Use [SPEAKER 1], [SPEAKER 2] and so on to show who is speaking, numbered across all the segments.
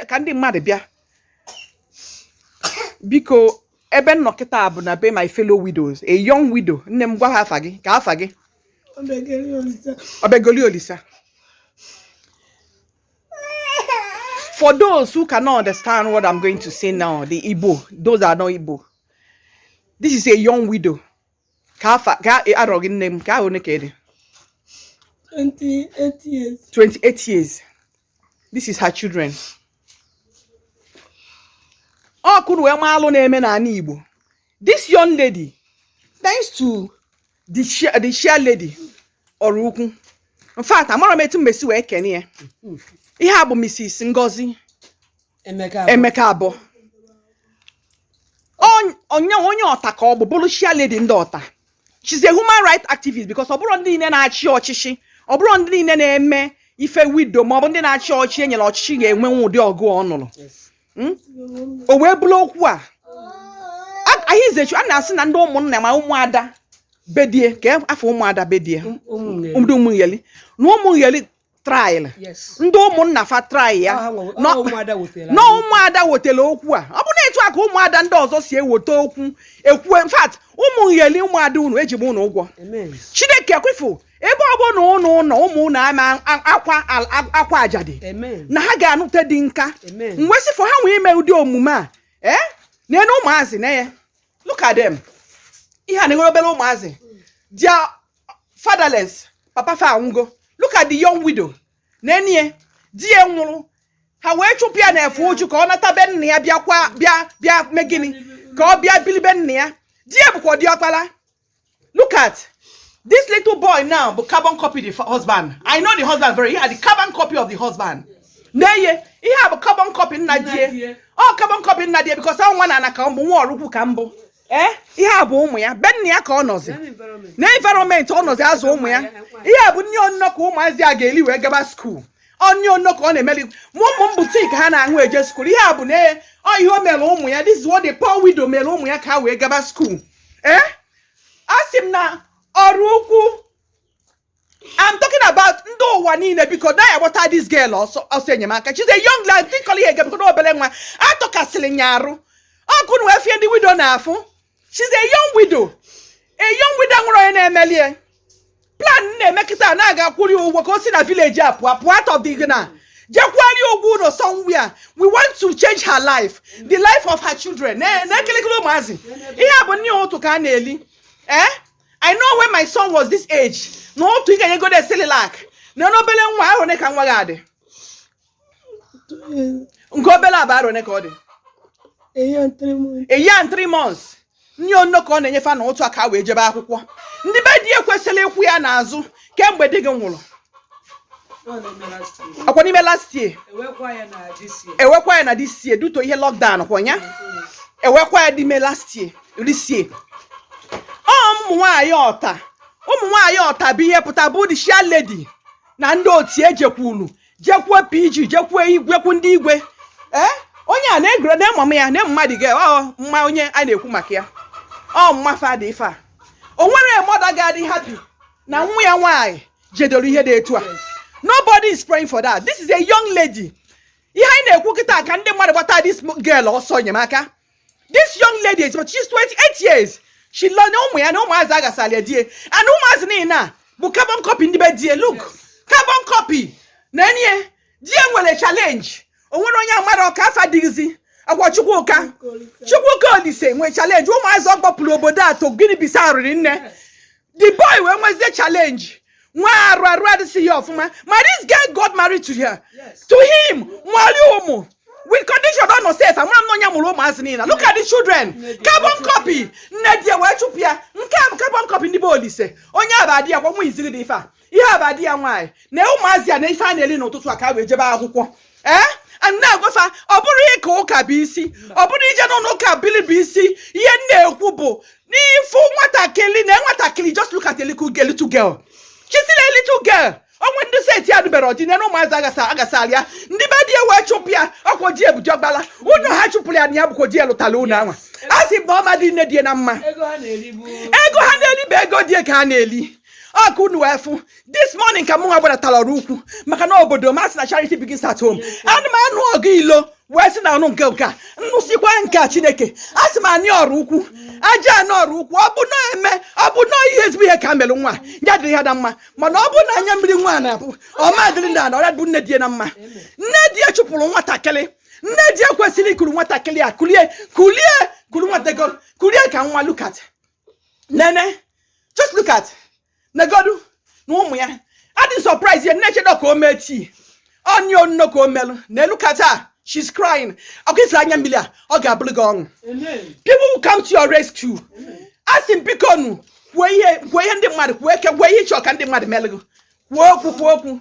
[SPEAKER 1] ka ndị mmadụ bịa biko ebe m nọ kịta bụ na be my fellow widows a young widow nne m gwa ha afa gị kee afa gị Obiageli Olisa for those who cannot understand what i'm going to say now the igbo those are not igbo this is a young widow kee afa kee arọ gị nne m kee arọ one ka ị dị 28 years. this is her children ka unu wee maa alụ na-eme n'anị Igbo this young lady thanks to the chair, the chair lady Oraukwu in fact amarọ m etu m esi wee kene ya ihe a bụ Mrs. Ngozi Emeka abụọ onye onye Otta ka ọ bụ bụrụ chair lady ndị Otta she's a human rights activist because ọ bụrọ ndị niile na-achị ọchịchị ọ bụrọ ndị niile na-eme ife widow ma ọ bụ ndị na-achị ọchị e nyere ọchịchị ga-anụnwu ụdị ọgụ ọ nụrụ hmm? o wee bụrụ okwu a ahizechu a na-asị na ndị ụmụnna ma ụmụada be di ya ka afọ ụmụada be di ya ndị ụmụnyeli na ụmụnyeli trail ndị ụmụnna fa trail ya na ụmụada wetara okwu a ọ bụ na etu a ka ụmụada ndị ọzọ si eweta okwu ekwu in fact ụmụ ngheli ụmụada unu eji m unu ụgwọ chineke kwefu ebe ọ bụna ụnụ nọ ụmụ ụnụ ama akwa akwa ajadu na ha ga-anụte di nke mwesịfụ ha nwee ime ụdị omume a ee eh? na ụmụazị na ya look at them ihe a na-enwere obere ụmụazị dia fatherless papa fa anwụgo look at the young widow na onye di ya nwụrụ ha wee chụpụ ya n'efe uju ka ọ nata be nna ya bịakwa bịa bịa mee gịnị ka ọ bịa bili be nna ya di ya bụkwa diọkpara look at this little boy now bụ carbon copy the husband i know the husband very well the carbon copy of the husband nee ya ihe a bụ carbon copy nna di ya ọ carbon copy nna di ya because ọ nwa na ana ka ọ bụ nwa Oraukwu ka m bụ ee eh, ihe a bụ ụmụ ya be nna ya ka ọ nọzi na environment ọ nọzi azụ ụmụ ya ihe a bụ nni onuno ka ụmụazị a ga-eli wee gaba skuul nni onuno ka ọ na-emeli ma ụmụ m bụ tea ka ha na-aṅụ eje skuul ihe a bụ na eh, ọ ihe o mere ụmụ ya this what the poor widow mere ụmụ ya ka ha wee gaba skuul ee eh? a sị m na Oraukwu I'm talking about ndị ụwa niile biko na ya gbata this girl ọsọ ọsọ enyemaka she's a young lady think ihe ege biko na obere nwa atọkasịrị ya arụ ọ ka unu wee fụ ife ndị widow na-afụ she's a young widow a young widow nwerọ onye na-emeli ya plan a na-eme kịta na a ga-akwụrụ ya ụgwọ ka o si na village a pụọ pụọ out of the gị na je kwụara ya ụgwọ ụnọ somewhere we want to change her life the life of her children na kịrịkịrị ụmụazị ihe a bụ nni ụtụtụ ka ha na-eli ee I know when my son was this age na otu ị ga-enyegodu cerelac nene obele nwa arọ one ka nwa gị a dị nke obele a bụ arọ one ka ọ dị a year and three months a year and three months nne onno ka ọ na-enye fa n'ụtụtụ a ka fa wee jebe akwụkwọ ndị be di ya kwesịlị ịkwụ ya n'azụ kemgbe di gị nwụrụ ọkwa n'ime last year ewekwa ya na this year due to ihe lockdown kwa ya ewekwa ya n'ime last year this year ọ ụmụ nwaanyị ọta ụmụ nwaanyị ọta bụ ihe pụta bụ the chairlady na ndị otu e jekwulu jekwuo PG jekwuo igwekwu ndị igwe ee eh? onye a na-egoro na ịmam ya na mmadụ ga ọ mma onye a na-ekwu maka ya ọ mma father ife a o nwere mother ga-adị happy na nwa ya nwaanyị jedoro ihe dị etu a nobody is praying for that this is a young lady ihe anyị na-ekwu kịta ka ndị mmadụ gbata this girl ọsọ enyemaka this young lady is but she's 28 years she lọ na ụmụ ya na ụmụazị a ghasalụ di ya and ụmụazị niile a bụ carbon copy ndị be di ya look carbon copy na di ya nwere challenge o nwere onye amara ọka afa dịghịzi agwa chukwuka chukwuka olise nwere challenge ụmụazị ọ gbapụrụ obodo a to gịnị bisa arịrị nne the boy wee nwezie challenge nwa arụ arụ adịsịghị ya ọfụma ma this girl got married to her to him nwale ụmụ with condition ọ nọ sef amara m na ọ ya mụrụ ụmụazị niile a look at the children carbon copy nne di ya wee chụpụ ya nke a bụ carbon copy ndị be olise onye a bụ di ya kwa nwa iziri dị ife a ihe aba di ya nwaanyị na ụmụazị ya na ife fa na-eri n'ụtụtụ a ka fa wee jebe akwụkwọ ee ana m agwa fa ọ bụrọ ịka ụka bụ isi ọ bụrọ ije n'ụlọ ụka bili bụ isi ihe m na-ekwu bụ na ị fụ nwatakịrị na nwatakịrị just look at a little girl little girl she's still a little girl o nwe ndị set ya lụberọ di nee nụ ụmụazị a ghasa ghasara ya ndị be di ya wee chụpụ ya ọkwa di ya bụzi ọkpala ụnọ ha chụpụrụ ya na ya bụkwa di ya lụtara ụnọ anwa a sị bụ ọ ma dị nne di ya na mma ego ha na-eri bụ ego ha na-eri bụ ego di ya ka ha na-eri ọ ka unu wee fụ this morning ka mụ nwa gbadatara ọraukwu maka na obodo m a sị na charity begins at home ana m anụ ọgụ ilo wee sị na anụ nke nke a nnụsikwa nke a chineke asị m anị ọraukwu aja anị ọraukwu ọ bụ na eme ọ bụ na ihe ezigbo ihe ka e melụ nwa a ya dịrị ya na mma mana ọ bụ na anya mmiri nwa a na-agba ọ ma dịrị nwaanyị a bụ nne di ya na mma nne di ya chụpụrụ nwatakịrị nne di ya kwesịrị ikuru nwatakịrị a kulie kulie kuru nwatakịrị kulie ka nwa look at nene just look at negodu na ụmụ ya adị surprise ya na-echedo ka o mee tii onye onno ka o melụ nne look at her she's crying okay ị fụrụ anya mmiri a ọ ga-abụrụ gị ọṅụ people will come to your rescue asị m bikonụ kwuo ihe kwuo ihe ndị mmadụ kwuo ihe kwuo ihe ị chọ ka ndị mmadụ melụ gị kwuo okwu kwuo okwu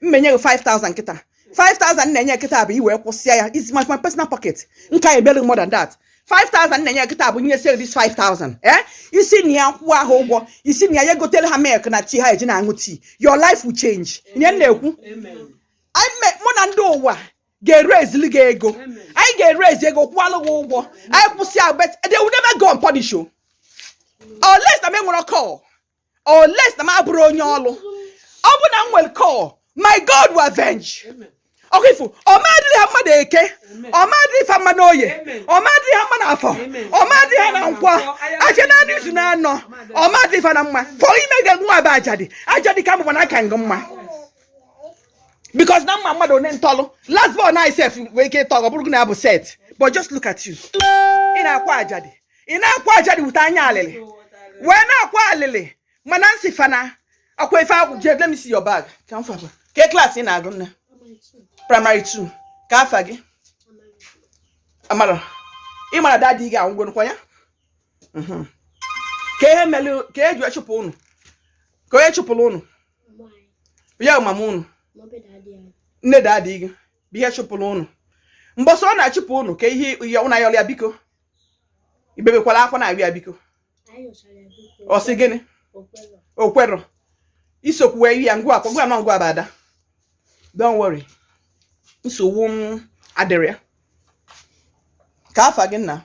[SPEAKER 1] m menye gị 5000 kịta 5000 m na-enye kịta bụ i wee kwụsịa ya is my, my personal pocket nke a ebere more than that 5000 m na-enye kịta bụ nye sel this 5000 eh i si na ya kwụọ ahụ ụgwọ i si na ya ya gotere ha milk na tii ha eji na-aṅụ tii your life will change ihe m na-ekwu anyị me- mụ na ndị ụwa ga-erezili gị ego anyị ga-erezi ego kwụọlụ gị ụgwọ anyị kwụsịa but they will never go unpunished unless na m enwerọ call unless na m abụrọ onye ọlụ ọ bụ na m nwerọ call my god will avenge ọkwa ifo ọ ma adịrị ha mma n'eke ọ ma adịrị fa mma n'oye ọ ma adịrị ha mma n'afọ ọ ma adịrị ha na nkwọ ahịa naanọ izu naanọ ọ ma adịrị fa na mma fọ ime ga nwa bụ ajadu ajadu ka mụba na aka ngị mma because na mma mmadụ onye ntọlụ last born na isef wee ike ịtọ ọ bụrụ na ya bụ set but just look at you ị na-akwa ajadu ị na-akwa ajadu wute anya alịlị wee na-akwa alịlị mana nsị fa na-akwa ife agwụ je let me see your bag ka m faba kee klaasị ị na-agụ nne praịmarị 2 kee afa gị Amara ị mara dadi gị anwụgwonụkwa ya mhm. kee ihe mere ka e ji echụpụ ụnụ kee onye chụpụrụ ụnụ ya mama ụnụ nne dadi gị bụ onye chụpụrụ ụnụ mbọsị ọ na-achụpụ ụnụ kee ihe ya ụnụ ayọrọ ya biko i bebekwala akwa na-arịọ ya biko ọ sị gịnị o kwerọ i sokwu wee ya ngwa akwa ngwa nọ ngwa abada don't worry nsogbu adịrọ ya kee afa gị nna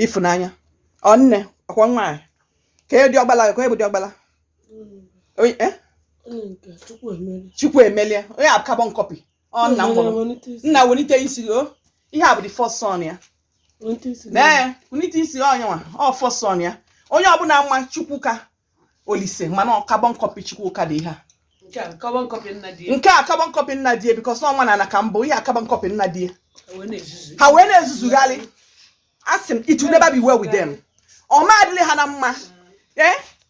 [SPEAKER 1] Ịfụnanya ọ nne ọ kwa nwaanyị kee diọkpala kee bụ diọkpala eh? Chukwuemelie onye a bụ carbon copy ọ nna m mụrụ nna welite isi gị ọ ihe a bụ the first son ya ee welite isi gị ọ nya nwa ọ first son ya onye a bụ nwa Chukwuka Olise mana ọ carbon copy Chukwuka dị ihe a nke a carbon copy nna di ya nke a carbon copy nna di ya because na ọ nwa na ana ka mbụ ihe a carbon copy nna di ya wee na-ezuzu ha wee na-ezuzugharị asị m it will never be well with them ọ ma adịrị ha na mma ee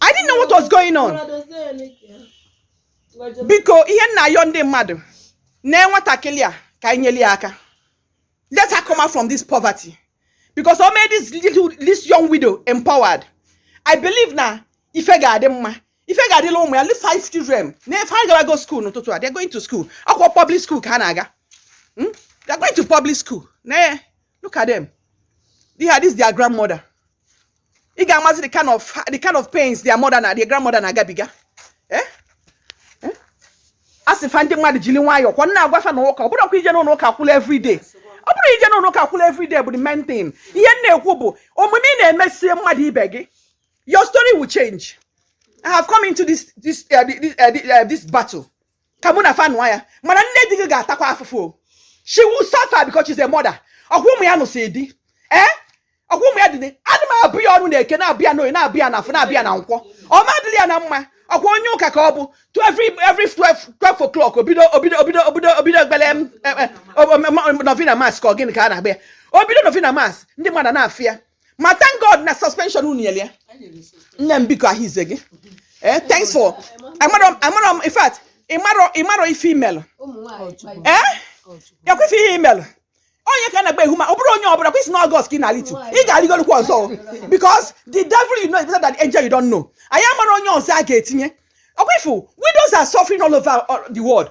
[SPEAKER 1] I didn't know what was going on. Biko ihe m na-ayọ ndị mmadụ na nwatakịrị a ka anyị nyere ya aka. Let her come out from this poverty. Because o made this little this young widow empowered. I believe na ife ga-adị mma. Ife ga-adịlị ụmụ ya, leave five children. Na ife ha gara go school n'ụtụtụ a, they're going to school. Akwụkwọ public school ka ha na-aga. Hmm? They're going to public school. Na look at them. They had this their grandmother. ị ga-amazi the kind of the kind of pains their mother na their grandmother na-agabiga eh? Eh? a sị fa ndị mmadụ jiri nwayọọ ka m na-agwa fa na ụka abụrọ okwu ije n'ụlọ ụka kwụla everyday ọ bụrọ ije n'ụlọ ụka kwụla everyday bụ the main thing ihe m na-ekwu bụ omume ị na-emesie mmadụ ibe gị your story will change I have come into this this uh, this, uh, uh, this battle ka mụ na fa nụọ ya mana nne di gị ga-atakwa afụfụ o she will suffer because she's a mother ọkwa ụmụ ya nụsị di ee ọkwa ụmụ ya dị ne- adị m abụ ya ọnụ na-eke na-abụ ya n'oyi na-abụ ya na afọ na-abụ ya na nkwọ ọma adịrị ya na mma ọkwa onye ụka ka ọ bụ to every every 12 12 o'clock obido obido obido obido obido ekpere em, em, em, o- o- ma- novena mas ka ọ gịnị ka a na-agba ya obido novena mas ndị mmadụ na-afụ ya ma thank god na suspension unu nyere ya nne m biko ahụ ize gị eh thanks for amarọ m amarọ m in fact ị marọ ị marọ ife i melụ eh ya kwefe ihe i melụ onye ka a na-agba ehu ma ọ bụrụ onye ọbụla kwesị na August ka ị na-alitu ị ga-arịgolukwa ọzọ o. because the devil you know is better than the angel you don't know anyị amarọ onye ọzọ a ga-etinye ọkwefu widows are suffering all over uh, the world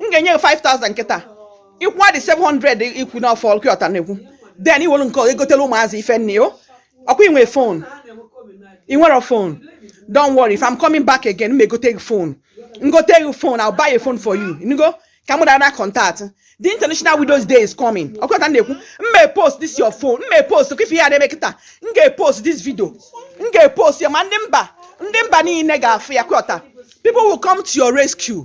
[SPEAKER 1] m ga-enye gị 5000 kịta ị kwụọ the 700 i kwu na ọ fọ ọkwa ọta na-ekwu then i welu nke ọzọ egotela ụmụazị ife nne o ọkwa i nwe phone ị nwere phone don't worry if I'm coming back again m egote gị phone m gote gị phone I'll buy a phone for you nugo ka mụ dara contact the international widows day is coming ọkwa ọta na-ekwu m may post this your phone m may post ka ị fụ ihe a na-eme kịta m ga-epost this video m ga-epost ya ma ndị mba ndị mba niile ga-afụ ya kwọta people will come to your rescue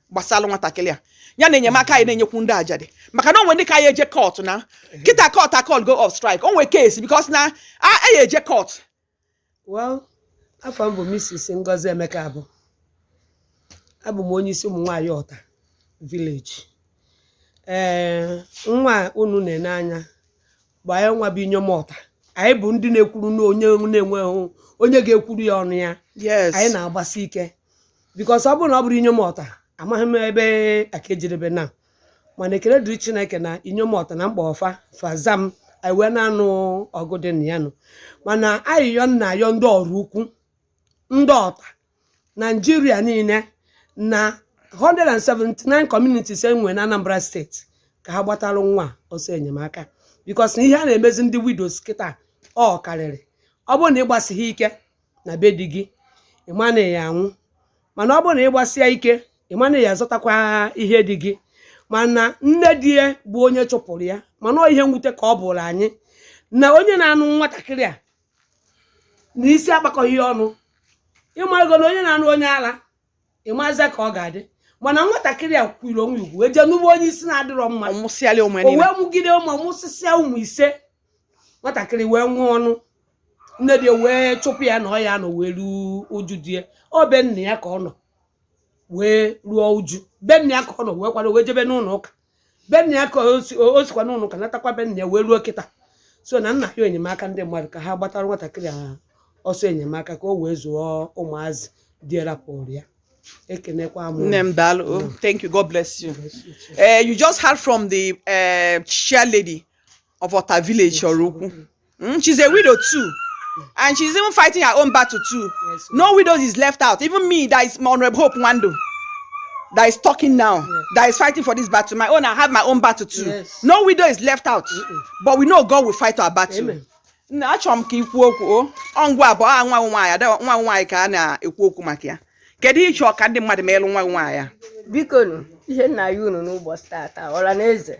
[SPEAKER 1] gbasara nwatakịrị a ya na enyemaka anyị na-enyekwu ndị ajadu maka na o nwe ndị ka ya eje court na kịta court a-call go off strike o nwe case because na a ya eje court well afa m bụ Mrs. Ngozi Emeka abụ abụ m onye isi ụmụ nwanyị Ọta village ee nwa unu na-ene anya bụ anyị nwa bụ inyom Ọta anyị bụ ndị na-ekwuru na onye na-enweghị onye ga-ekwuru ya ọnụ ya yes anyị na-agbasi ike because ọ bụrụ na ọ bụrọ inyom Ọta amaghị m ebe a ka-ejedebe na mana ekele dịrị chineke na inyom Ọta na m kpọọ fa fa aza m anyị wee na-anụ ọgụ dị na ya nụ mana ayịyọ m na-ayọ ndị Oraukwu ndị Ọta Nigeria niile na 179 communities e nwere na Anambra state ka ha gbatalụ nwa a ọsọ enyemaka because na ihe a na-emezi ndị widows kịta ọ karịrị ọ bụrụ na ị gbasighị ike na be di gị ị ma na ị ya-anwụ mana ọ bụrụ na ị gbasie ike ị ma na ị ya-azọtakwa ihe di gị mana nne di ya bụ onye chụpụrụ ya mana ọ ihe mwute ka ọ bụụrụ anyị na onye na-anụ nwatakịrị a na isi akpakọghị ya ọnụ ị mago na onye na-anụ onye ara ị mazi ka ọ ga-adị mana nwatakịrị a kwuru onwe wee jee nụbe onye isi na-adịrọ mma Ọ mụsịala ụmụ ya o niile. wee mụgide ụmụ mụsịsịa ụmụ ise nwatakịrị wee nwee ọnụ nne di wee chụpụ ya na ọ ya nọ wee ruo uju di ya ọ be nna ya ka ọ nọ wee ruo uju be nna ya ka ọ nọ wee kwado wee jebe n'ụlọ ụka be nna ya ka o si- o- o sikwa n'ụlọ ụka natakwa be nna ya wee ruo kịta so na m na-ayọ enyemaka ndị mmadụ ka ha gbatara nwatakịrị a ọsọ enyemaka ka o wee zụọ ụmụazị di ya rapụrụ ya ekenekwa m Nne m daalụ. Oh, Thank you. God bless you. Eh, you just heard from the eh, chair lady of Otta village, Oraukwu. Mm, she's a widow too. And she's even fighting her own battle too. Yes, sir. No widows is left out. Even me, that is my honorable Hope Nwandu, that is talking now, Yeah. that is fighting for this battle. My own, I have my own battle too. Yes. No widow is left out. But we know God will fight our battle. Amen. Nna, achọrọ m ka i kwuo okwu o ọ ngwa abụọ a nwa gị nwaanyị ada nwa gị nwaanyị ka a na-ekwu okwu maka ya kedu ihe ị chọ ka ndị mmadụ meelụ nwa gị nwaanyị a biko nụ ihe m na-ayọ unu n'ụbọchị tata ọra na eze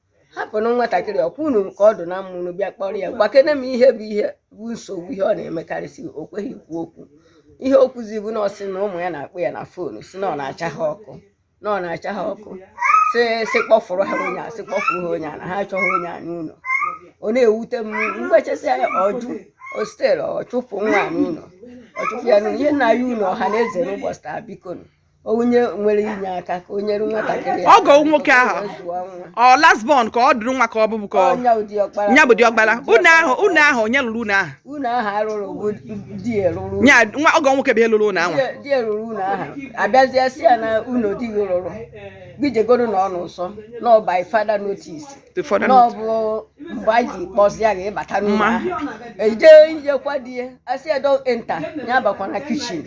[SPEAKER 1] hapụnụ nwatakịrị ọkwa unu ka ọ dụ na mma unu bịa kpọrọ ya gwakene m ihe bụ ihe bụ nsogbu ihe ọ na-emekarịsị o kweghị ikwu okwu ihe o kwuzi bụ na ọ sị na ụmụ ya na-akpọ ya na foonu sị na ọ na-acha ha ọkụ na ọ na-acha ha ọkụ sị sị kpọfụrụ ha onye a sị kpọfụrụ ha onye a na ha achọghị onye a n'ụlọ ọ na-ewute m mgbechasị ya ọjụ ostel ọ chụpụ nwa a n'ụlọ ọ chụpụ ya n'ụlọ ihe m na-ayọ unu ọha na eze n'ụbọchị taa biko nụ onye nwere enyemaka ka o nyere nwatakịrị a ọgọ nwoke ahụ wee zụọ nwa ọ last born ka ọ dụrụ nwa ka ọ bụbụ ka ọ nya bụ di ọkpara nya bụ di ọkpara ụnọ ahụ ụnọ ahụ onye rụrụ ụnọ ahụ ụnọ ahụ a rụrụ bụ di ya rụrụ nya nwa ọgọ nwoke bụ ya rụrụ ụnọ ahụ Di- di ya rụrụ ụnọ ahụ abịazie sị ya na ụnọ di gị rụrụ gị jegoro na ọ n'ụsọ na ọ by further notice ụfọdụ na ọ bụ mgbe a ji kpọzịa gị ịbata n'ụlọ Mma. ahụ eje ijekwa di ya asị ya don't enter ya abakwana kichin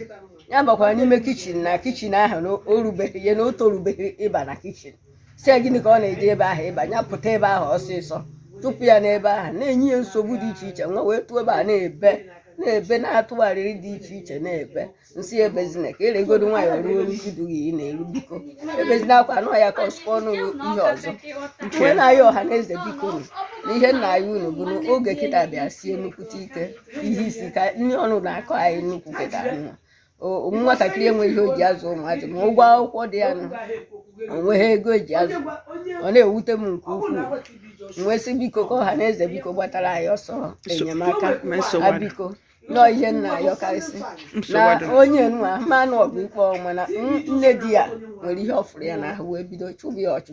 [SPEAKER 1] ya abakwala n'ime kichin na kichin ahụ na o rubeghị ya na o torubeghị ịba na kichin sị ya gịnị ka ọ na-eje ebe ahụ sị ya pụta ebe ahụ ọsịsọ chụpụ ya n'ebe ahụ na-enye ya nsogbu dị iche iche nwa wee tụọ ebe a na-ebe na-ebe na-atụgharịrị dị iche iche na-ebe m sị ebezina ka i weregodo nwayọ ruo uju di gị ị na-eru biko ebezina akwa anọ ya ka ọsụkwa ọnụ gị ihe ọzọ m wee na-ayọ ọha na eze biko nụ na ihe m na-ayọ unu bụ na oge kịta bịa sie nnukwute ike ihe isi ike nni ọnụ na-akọ anyị nnukwu kịta nọ O- nwatakịrị enweghị ihe o ji azụ ụmụazị ma ụgwọ akwụkwọ dị ya nọ o nweghị ego e ji azụ ọ na-ewute m nke ukwuu m wee sị biko ka ọha na eze biko gbatara anyị ọsọ enyemaka Ma nsogbu a adị. biko nụ ihe m na-ayọkarịsị na Nsogbu adị. onye nwa manụ ọgụ ikpe ọnwụ mana n- nne di ya nwere ihe ọ fụrụ ya n'ahụ wee bido chụba ya ọchụ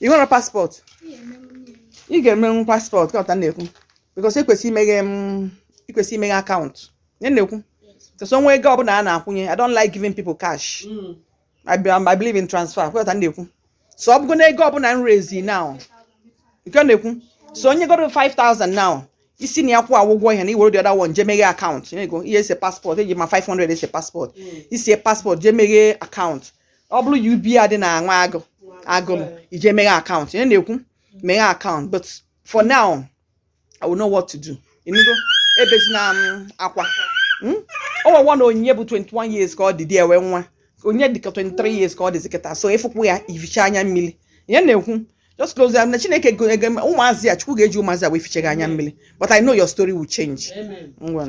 [SPEAKER 1] ị nwere paspọtụ ị ga-emenwu paspọtụ ị ghọta ihe m na-ekwu bikos ikwesị imeghe m ikwesị imeghe akaụntụ ihe m na-ekwu bikos o nwee ego ọbụla a na-akwụnye i don't like giving people cash I, be, I believe in transfer ị ghọta ihe m na-ekwu so ọ bụgo na ego ọbụla m raise now nke ọ na-ekwu so onye goro 5000 now i si na ya kwụọ ụgwọ ihe na i were the other one je meghe akaụntụ ihe m na-ekwu i je ese paspọtụ eji ma 500 ese paspọtụ i see paspọtụ je meghe akaụntụ ọ bụrụ UBA dị na Nwagụ Agụlụ i je meghe akaụntụ ihe m na-ekwu meghe akaụntụ but for now I will know what to do ịnụgo ebezina m um, akwa hmm? o nwewa na onyinye bụ 21 years ka ọ dị dị ewe nwa onye dịka 23 years ka ọ dịzi kịta so ịfụkwụ ya ị fichaa anya mmiri ihe m na-ekwu just close ya na Chineke ga-eji ụmụazị ya Chukwu ga-eji ụmụazị ya wee fichaa gị anya mmiri but I know your story will change ngwa